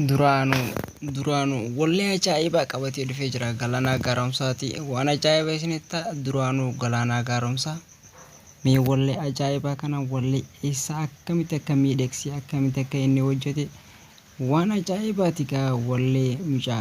Duraanuu duraanuu wallee ajaa'ibaa qabatee dhufee jira galaanaa gaaromsaati waan ajaa'ibaa isinitti ta'a duraanuu galaanaa gaaromsaa mee wallee ajaa'ibaa kana wallee eessaa akkamitti akka miidhegsee akkamitti akka inni hojjete waan ajaa'ibaati gaa wallee mucaa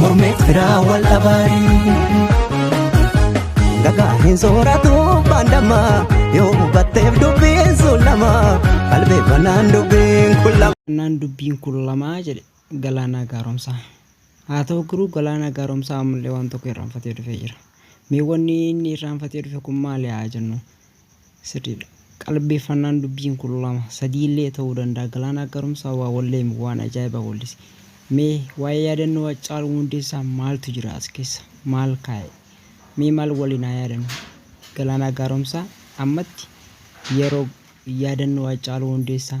Mormeet biraa wal dhabaanii. Dhagaa hin sooratu baandama yoo hubatteef dubbiin sun lama qalbee banaan dubbiin kun lama. Naan dubbiin kun lamaa jedhe galaanaa gaaromsaa. Haa ta'u garuu galaanaa gaaromsaa ammallee waan tokko irraanfatee dhufee jira. Mee wanni inni irraanfatee dhufe kun maali haa jennu? Sirriidha. Qalbeeffannaan dubbiin kun lama, sadii illee ta'uu danda'a. Galaanaa Gaaromsaa waa walleemi, waan ajaa'ibaa wallise. Mee waa'ee yaadannoo Haccaaluu Hundeessaa maaltu jira as keessa? Maal kaa'e? Mee maal waliin haa yaadannu? Galaanaa Gaaromsaa ammatti yeroo yaadannoo Haccaaluu Hundeessaa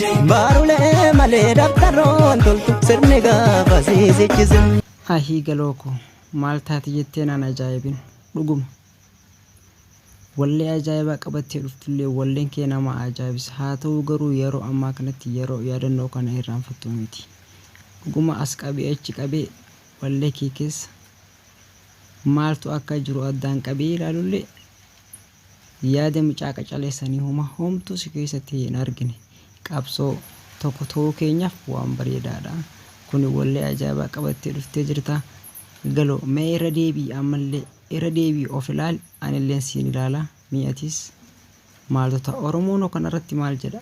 Baarulee malee dabtaroon toltu sirni gaafa siisichisin. Ahii galoo koo maal taati jettee naan ajaa'ibin dhuguma wallee ajaa'ibaa qabattee dhuftullee walleen kee nama ajaa'ibsa haa ta'uu garuu yeroo ammaa kanatti yeroo yaadannoo kana irraanfattu miti dhuguma as qabee achi qabee wallee kee keessa maaltu akka jiru addaan qabee ilaalullee Yaada mucaa qacalee sanii homa homtuu si keessatti hin argine qabsoo tokko ta'uu keenyaaf waan bareedaadha kuni wallee ajaa'ibaa qabattee dhuftee jirta galo mee irra deebi'i ammallee irra deebi'i of ilaali anilleen siin ilaala mee atis maaltu ta'a oromoonoo kanarratti maal jedha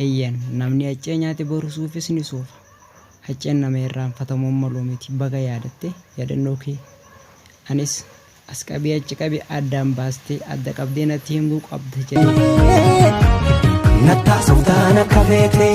Eeyyen, namni haccee nyaate boru suufis ni suufa. Hacceen nama irraanfatamuun maluu miti. Baga yaadatte yaadannoo kee anis as qabii achi qabi addaan baastee adda qabdee natti himuu qabda jedheen. Nattaasoftaan akka feetee.